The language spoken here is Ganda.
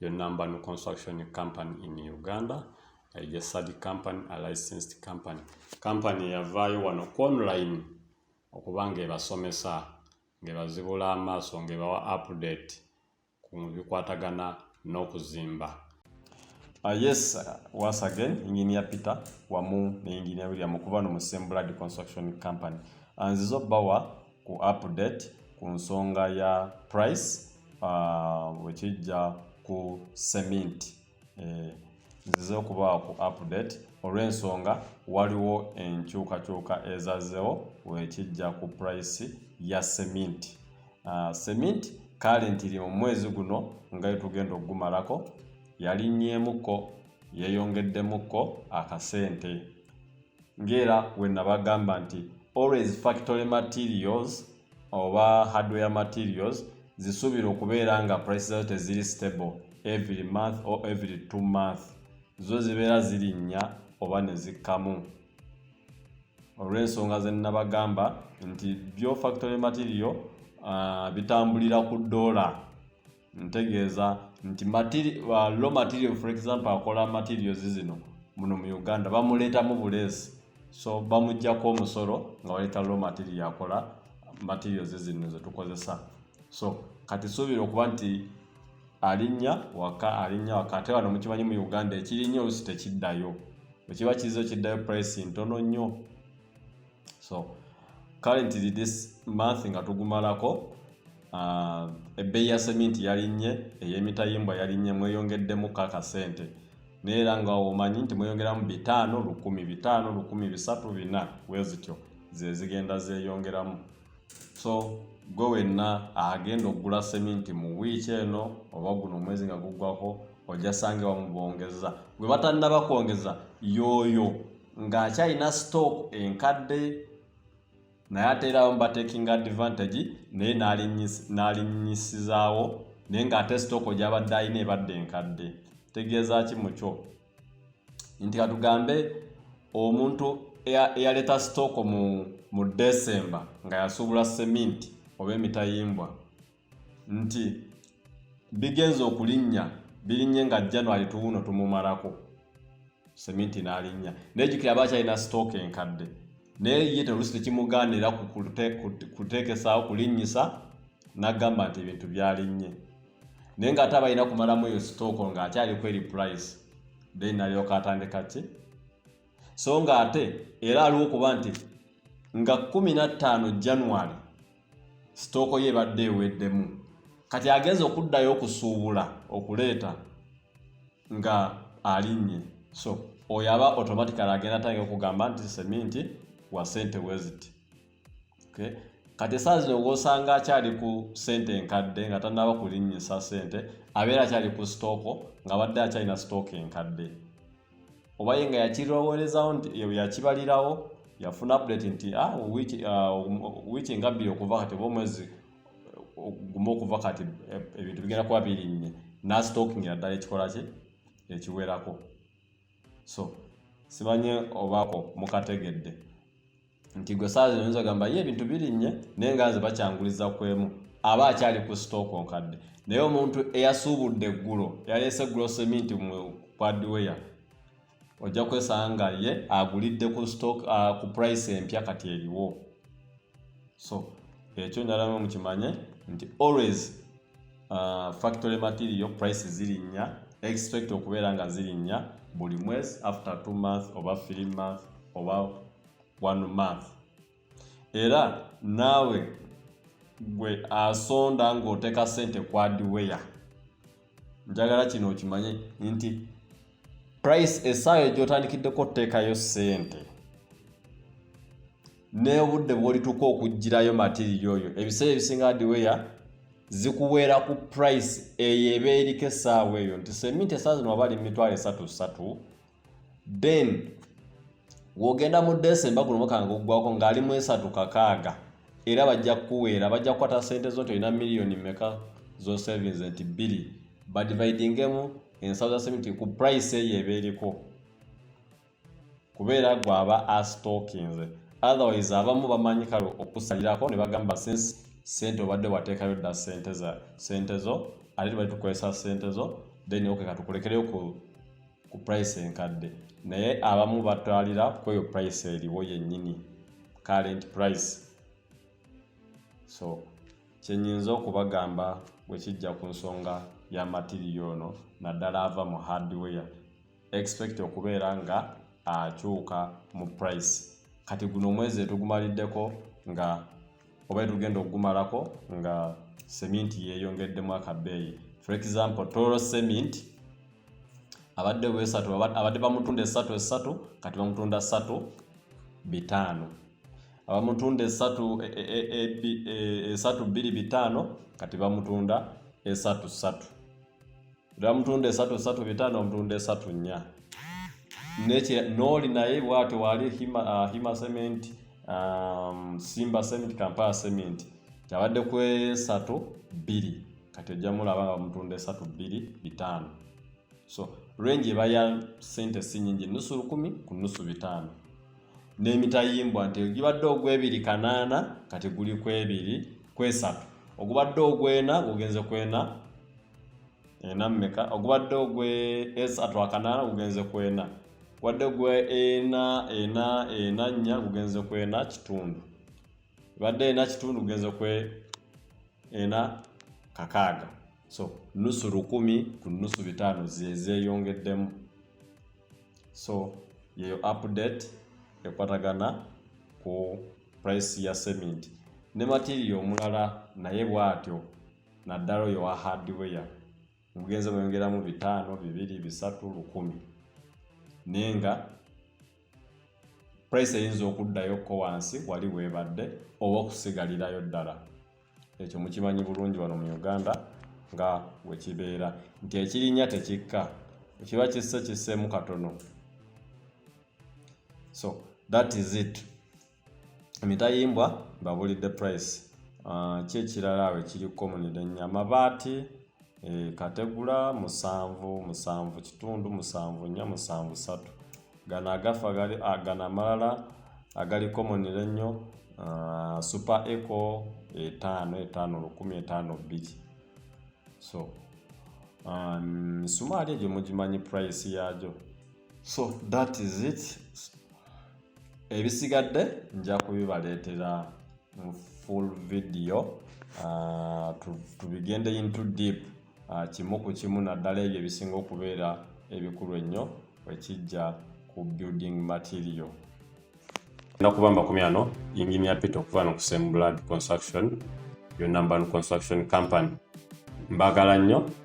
Your number no construction company in Uganda is a study company, a licensed company. Company yavaayo wano ku online okuba ng'ebasomesa ng'ebazibula amaaso ng'ebawa update ku bikwatagana n'okuzimba. Uh, yes, uh, once again, Engineer Peter wamu ne Engineer William okuba no mu Sembuladi Construction Company. Uh, nzizo bawa ku update ku nsonga ya price uh, wekijja ku cement eh, nzize okubaawo ku update olw'ensonga waliwo enkyukakyuka ezazewo wekijja ku price ya cement uh, cement kale ntiri mu mwezi guno nga yetugenda okugumalako yalinnyemukko yeyongeddemuko akasente ng'era we nabagamba nti always factory materials oba hardware materials zisuubira okubeera nga price zazo teziri stable every month or every two month zo zibeera zirinnya oba ne zikkamu olw'ensonga ze nnabagamba nti byo factory material uh, bitambulira ku doola ntegeeza nti uh, low material for example akola materials zino muno mu uganda bamuleetamu buleesi so bamugjako omusolo nga baleeta low material akola materials zino zetukozesa so kati suubira okuba nti alinnya waka alinnya waka ate wano mukimanyi mu uganda ekirinnyo olusi tekiddayo bwekiba kizo kiddayo price ntono nnyo so currently this month nga tugumalako uh, ebbeeyi ya seminti yalinnye ey'emitayimbwa yalinnye mweyongeddemu kaka sente naye era nga omanyi nti mweyongeramu bitaano lukumi bitaano lukumi bisatu bina wezityo zezigenda zeyongeramu so gwe wenna agenda okugula seminti mu wiiki eno oba guno omwezi nga guggwako ojja sange wamubongeza gwe batannaba kwongeza yooyo ng'akyalina stock enkadde naye ate era abamu batekinga advantage naye n'alinyisizaawo naye ng'ate stock gyabadde alina ebadde enkadde tegeeza ki mukyo nti katugambe omuntu eyaleeta sitooko mu mu desemba nga yasuubula seminti oba emitayimbwa nti bigenza okulinnya birinye nga january tuwuno tumumalako seminti n'alinnya naye jukira aba akyalina sitooka enkadde naye ye terusi tekimugaanira kuteekesaawo kulinnyisa n'agamba nti ebintu byalinnye naye nga ate abalina kumalamu eyo sitooko nga akyali kweri price then nalyoka atandika ki so nga ate era aliwo kuba nti nga 15 january sitooko ye ebadde eweddemu kati agenza okuddayo okusuubula okuleeta nga alinnye so oyo aba automatically agenda tange okugamba nti seminti wa sente weziti kati esaawa zino ng'osanga akyali ku ssente enkadde nga tannaba kulinnyisa ssente abeera akyali ku sitooko ng'abadde akyalina sitooka enkadde oba ye nga yakiroworezawo nti yakibalirawo yafuna update nti ah, uh, wiiki nga bbiri okuva kati oba omwezi uh, gumu okuva kati eh, ebintu bigenda kuba birinnye nasitokingira ddala ekikola kye ekiwerako so simanye obaako mukategedde nti gwe saazi oyinza ogamba ye ebintu birinnye naye nga nze bakyanguliza ku emu aba akyali ku sitooko nkadde naye omuntu eyasuubudde eggulo yaleese gulosemi nti kwadiweya ojja kwesanga nga ye agulidde ku stock uh, ku price empya kati eriwo so ekyo nalamu mukimanye nti always uh, factory material price zirinnya expect okubeera nga zirinnya buli mwezi after two month oba three month oba one month era naawe gwe asonda ng'oteeka sente kwadiweya njagala kino okimanye nti price esaawa egyotandikiddeko oteekayo sente n'obudde bwolituuka okugirayo matiriyo oyo ebiseera ebisinga adiweya zikuweera ku price eyo eba eriko esaawa eyo nti seminti esaawa zino waba ali mitwalo esatu satu ben wogenda mu desemba guno omwaka nga guggwako ng'ali mu esatu kakaaga era bajja kukuweera bajja kukwata ssente zo nti olina miliyoni meka zo savings nti bbiri badividingemu ensawo za seminti ku price eyo eba eriko kubeera gwaba astokinze otherwise abamu bamanyi kale okusalirako ne bagamba since sente obadde wateekayo dda sente zo ate tubali tukozesa sente zo then okeka tukulekereyo ku ku price enkadde naye abamu batwalira kweyo price eriwo yennyini current price so kyenyinza okubagamba bwe kijja ku nsonga ya matiriyo ono naddala ava mu hardware expect okubeera nga akyuka mu price kati guno omwezi etugumaliddeko nga oba etugenda okugumalako nga seminti yeyongeddemu akabeeyi for example toro cement abadde wesatu abadde bamutunda esatu esatu kati bamutunda satu bitaano abamutunda esatu e, e, e, esatu bbiri bitaano kati bamutunda esatu satu Dira mutunda esatu esatu bitano mutunda esatu nya. Neche noli na ye watu wali hima, uh, hima cement, um, simba cement, kampala cement. Chabade kwe sato bili. Kati jamu la wanga mutunda esatu bili bitano. So, range iba ya sente sinyingi nusu rukumi kunusu bitano. Nemitayimbwa nte gibadde ogwebili kanana kati guli kwebili kwesatu. Ogubadde ogwena gugenze kwena ena mumeka ogubadde ogwe esa twakanaana gugenze kwena gubadde gwe ena ena ena nnya gugenze kwena kitundu ebadde ena kitundu gugenze kwe ena kakaaga so nusu lukumi ku nusu bitaano zezeyongeddemu so yeyo update ekwatagana ku price ya cement ne material omulala naye bwatyo naddala oyo wa hardware mugenze mweyongeramu bitaano bibiri bisatu lukumi naye nga price eyinza okuddayo ko wansi wali webadde oba okusigalirayo ddala ekyo mukimanyi bulungi wano mu uganda nga wekibeera nti ekirinya tekikka ekiba kisse kisseemu katono so that is it emitayimbwa babulidde price ah, ki ekirala awo ekiri komunire nya amabaati eh, kategula musanvu musanvu kitundu musanvu nya musanvu satu gano agafa ah, gano amalala agali komunire nnyo ah, super eco etaano etaano lukumi etaano bbiri so misumaali um, egyo mugimanyi price yaagyo so that is it ebisigadde nja kubibaleetera mu full video uh, tubigende into deep uh, kimu ku kimu naddala ebyo ebisinga okubeera ebikulu ennyo ekijja ku building material nakuba makumi ano yingini ya pita okuva no kusem blood construction yonna mbanu construction company mbagala nnyo